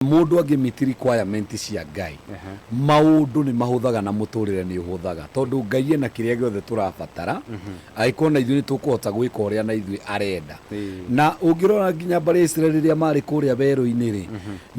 Mũndũ angĩmit requirement cia Ngai, maũndũ nĩ mahũthaga na mũtũrĩre nĩ ũhũthaga. Tondũ Ngai ena kĩrĩa gĩothe tũrabatara, angĩkorwo na ithuĩ nĩ tũkũhota gwĩka ũrĩa na ithuĩ arenda. Na ũngĩrora nginya mbarĩ ya Isiraeli rĩrĩa marĩ kũrĩa werũ-inĩ rĩ,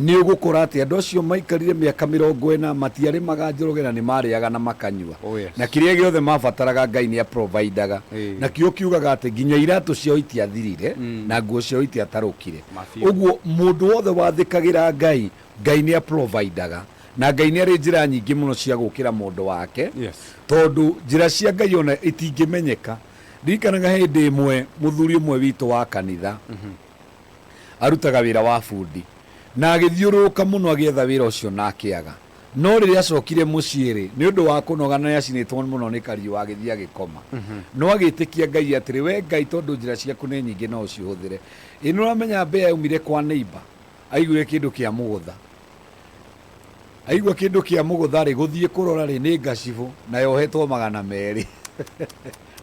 nĩ ũgũkora atĩ andũ acio maikarire mĩaka mĩrongo ĩna, matiarĩmaga njoroge na nĩ marĩaga na makanyua. Na kĩrĩa gĩothe mabataraga Ngai nĩ a providaga. Nakĩo kiugaga atĩ nginya iratũ ciao itiathirire, na nguo ciao itiatarũkire. Mabiũ. ũguo mũndũ wothe wathĩkagĩra ngai ngai nĩ aprovidaga na ngai nĩ arĩ njĩra nyingĩ mũno cia gũkĩra mũndũ wake Yes. tondũ njĩra cia ngai ona itingĩmenyeka ndirikanaga he hĩndĩ ĩmwe mũthuri ũmwe witũ wa kanitha arutaga wĩra wa bundi na agĩthiũrũrũka mũno agĩetha wĩra ũcio na akĩaga no rĩrĩa acokire mũciĩ rĩ nĩ ũndũ wa kũnoga na nĩacinĩtwo mũno nĩ kariũa agĩthiĩ agĩkoma no agĩtĩkia ngai atĩrĩ we ngai tondũ njĩra ciaku nĩ nyingĩ no ũcihũthĩre Ĩ nũramenya mbĩa yaumire kwa neighbor aiguire kĩndũ kĩa mũgũtha aigua kĩndũ kĩa mũgũtha rĩ gũthiĩ kũrora rĩ nĩ ngacibũ na yohetwo magana merĩ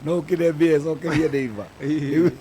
no ũkĩre mbĩa ĩcokerie neighbor Rĩu-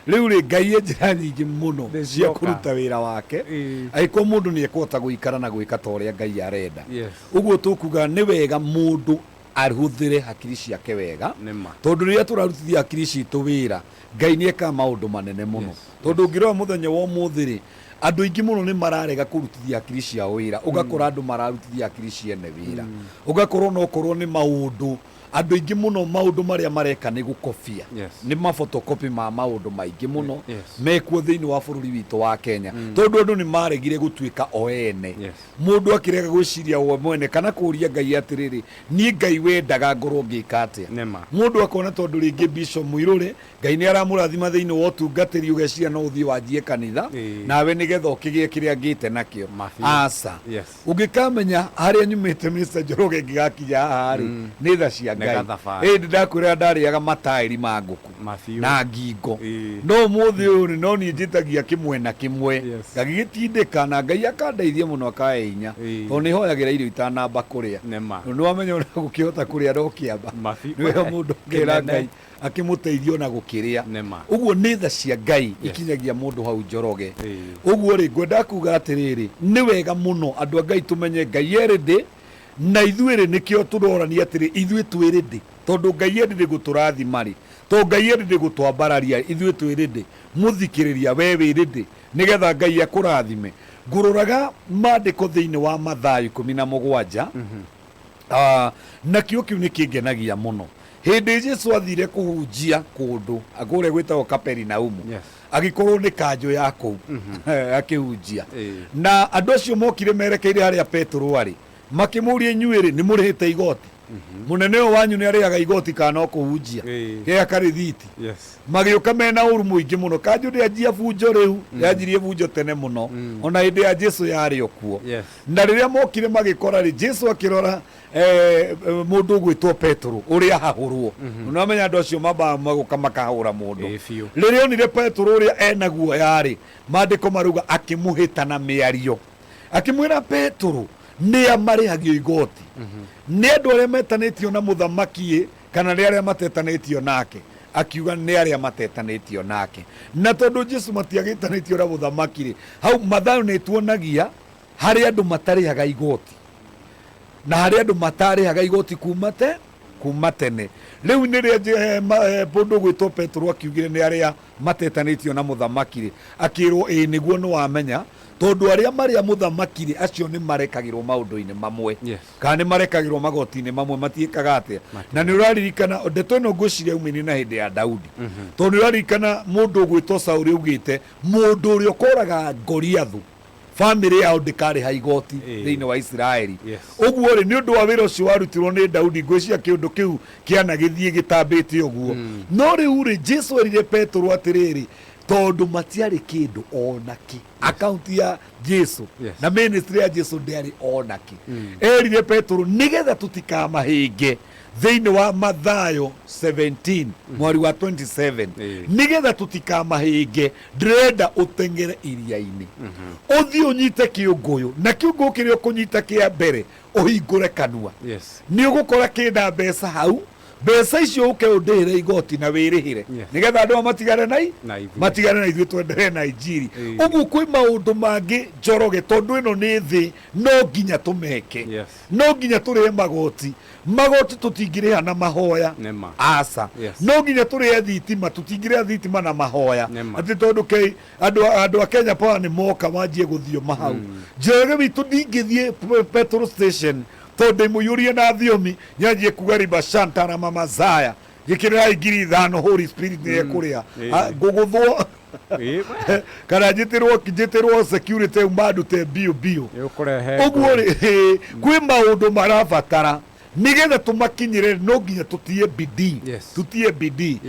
rĩu rĩ ngai e njĩra nyingĩ mũno Nĩ cia cioka. kũruta wĩra wake Ĩĩ. agĩkorwo mũndũ nĩ ekũhota gũikara na gwĩka ta ũrĩa ngai arenda Yes. ũguo tũkuga nĩ wega mũndũ ahũthĩre hakiri ciake wega, Nĩma. tondũ rĩrĩa tũrarutithia hakiri citũ wĩra, Ngai nĩ ekaga maũndũ manene mũno. Yes, Tondũ yes. ũngĩrora mũthenya wa ũmũthĩ-rĩ, andũ aingĩ mũno nĩ mararega kũrutithia hakiri ciao wĩra, ũgakora andũ mararutithia hakiri ciene wĩra. Ũgakora onokorwo nĩ maũndũ, andũ aingĩ mũno maũndũ marĩa mareka nĩ gũkobia. Yes. Nĩ ma photocopy ma maũndũ maingĩ mũno Yes. mekuo thĩinĩ wa bũrũri witũ wa Kenya. Tondũ andũ nĩ maregire gũtuĩka o ene. Yes. Mũndũ akĩrega gwĩciria we mwene kana kũũria Ngai atĩrĩrĩ, Niĩ Ngai wendaga ngorũo ngĩka atĩa? Nĩma. Mũndũ akona tondũ rĩngĩ Bishop Mũirũrĩ Ngai nĩ aramũrathima thĩinĩ wa ũtungatĩri ũgeciria no ũthiĩ wanjie kanitha Ĩĩ. nawe nĩgetha ũkĩgĩe kĩrĩa ngĩte nakĩo. Ma biũ. Aca. Yes. Ũngĩkamenya harĩa nyumĩte Mister Njoroge ngĩgakinya haha rĩ, nĩ tha cia Nĩ Ngai. gathabarĩ. Ĩndĩ ndakwĩraga ndarĩaga mataĩri ma ngũkũ. na ngingo. No ũmũthĩ ũyũ rĩ, no niĩ njĩtagia kĩmwena kĩmwe, ngagĩgĩtindĩka na Ngai akandeithia mũno akahe hinya, tondũ nĩ hoyagĩra irio itanamba kũrĩa. Tondũ nĩ wamenya ona gũkĩhota kũrĩa ndokĩamba, nĩ wega mũndũ akera Ngai akĩmũteithie ona gũkĩrĩa. Ũguo nĩ tha cia Ngai ikinyagia mũndũ hau Njoroge. Ũguo rĩ, ngwendaga kuga atĩrĩrĩ, nĩ wega mũno andũ a Ngai tũmenye Ngai e ready, na ithuĩ rĩ, nĩkĩo tũrorania atĩrĩ, ithuĩ twĩ ready. Tondũ Ngai e ready gũtũrathima-rĩ, to Ngai e ready gũtwambararia ithuĩ twĩ ready? Mũthikĩrĩria, wee wĩ ready nĩgetha Ngai akũrathime? Ngũrũraga maandĩko thĩinĩ wa Mathayo ikũmi na mũgwanja, nakĩo kĩu nĩkĩngenagia mũno. Hĩndĩ Jesu athire kũhunjia kũndũ kũrĩa gwĩtagwo Kaperinaumu, agĩkorwo nĩ kanjũ ya kũu akĩhunjia. Na andũ acio mokire merekeire harĩa Petero arĩ, makĩmũria, inyuĩ-rĩ, nĩmũrĩhĩte igoti? mũnene ũyũ wanyu nĩ arĩaga igoti kana ũkũhunjia Ĩĩ. gea karĩthiti Yes. magĩũka mena ũru mũingĩ mũno kanjũ ndĩanjia bunjo rĩu yanjirie bunjo tene mũno ona hĩndĩ ya jesu yarĩ o kuo Yes. na rĩrĩa mokire magĩkora rĩ jesu akĩrora eh, eh, mũndũ ũgwĩtwo petero ũrĩa ahahũrwo nĩwamenya andũ acio mambaga magũka makahũra mũndũ Ĩĩ biũ. rĩrĩa onire petero ũrĩa ena guoya rĩ maandĩko marauga akĩmũhĩta na mĩario akĩmwĩra petũrũ nĩa marĩhagio igoti nĩ andũ arĩa metanĩtio na mũthamaki kana nĩ arĩa matetanĩtio nake akiuga nĩ arĩa matetanĩtio nake na tondũ jesu matiagĩtanĩtio na mũthamaki rĩ hau mathayo nĩ tuonagia harĩ andũ matarĩhaga igoti na harĩ andũ matarĩhaga igoti kuma te kuma tene rĩu nĩ rĩa mũndũ gwĩtwo petũrũ akiugire nĩ arĩa matetanĩtio na mũthamaki-rĩ, akĩĩrwo, Ĩĩ nĩguo nĩwamenya, tondũ arĩa marĩ a mũthamaki-rĩ, acio nĩmarekagĩrwo maũndũ-inĩ mamwe, Yes. kana nĩmarekagĩrwo magoti-inĩ mamwe, matiĩkaga atĩa. Na Matiĩkaga. nĩũraririkana, ndeto ĩno ngwĩciria yaumaine na hĩndĩ ya Daudi, tondũ nĩũraririkana mũndũ ũgwĩtwo Saũlũ augĩte, mũndũ ũrĩa ũkoraga Ngoriathũ famĩlĩ yao ndĩkarĩha igoti Ĩĩ. thĩinĩ wa isiraeli Yes. ũguo-rĩ nĩ ũndũ wa wĩra ũcio warutirwo nĩ daudi ngwĩciria kĩũndũ kĩu kĩanagĩthiĩ gĩtambĩte ũguo no rĩu-rĩ jesu erire petũrũ atĩrĩrĩ tondũ matiarĩ kĩndũ ona kĩ akaunti ya jesu Yes. na ministry ya jesu ndĩarĩ ona kĩ erire petũrũ nĩgetha tũtikamahĩnge thĩinĩ wa mathayo 17 mwari wa 27 Ĩĩ. nĩgetha tũtikamahĩnge Ndĩrenda ũteng'ere iria-inĩ, ũthiĩ ũnyite kĩũngũyũ, na kĩũngũyũ kĩrĩa ũkũnyita kĩa mbere, ũhingũre kanua. Nĩ ũgũkora kĩ na mbeca hau. Mbeca icio ũke ũndĩhĩre igooti na wĩrĩhĩre, nĩgetha andũ aya matigane na matigane na ithuĩ twenderee na injiri. Ũguo kwĩ maũndũ mangĩ Njoroge, tondũ ĩno nĩ thĩ, no nginya tũmeke. no nginya tũrĩhe magoti magoti tũtingĩrĩha na mahoya Nĩma. aca Yes. no nginya tũrĩhe thitima tũtingĩrĩha thitima na mahoya Nĩma. atĩ tondũ kei andũ a- andũ a kenya power nĩ moka manjie gũthio mahau njoroge witũ ndingĩthiĩ p- petrol station tondũ ndĩmũiyũrie na thiomi nyanjie kuga ribashantara mamazaya njĩkĩrĩrai ngiri ithano holy spirit nĩ ekũrĩa Mm. Ah, ngũgũthwo Ĩ, we, kana njĩtĩrwo njĩtĩrwo security mandute bio bio nĩ ũkũrehe ũguo ngũĩ. rĩ kwĩ maũndũ marabatara nĩgetha tũmakinyĩre no nginya tũtie bidii Yes. tũtie bidii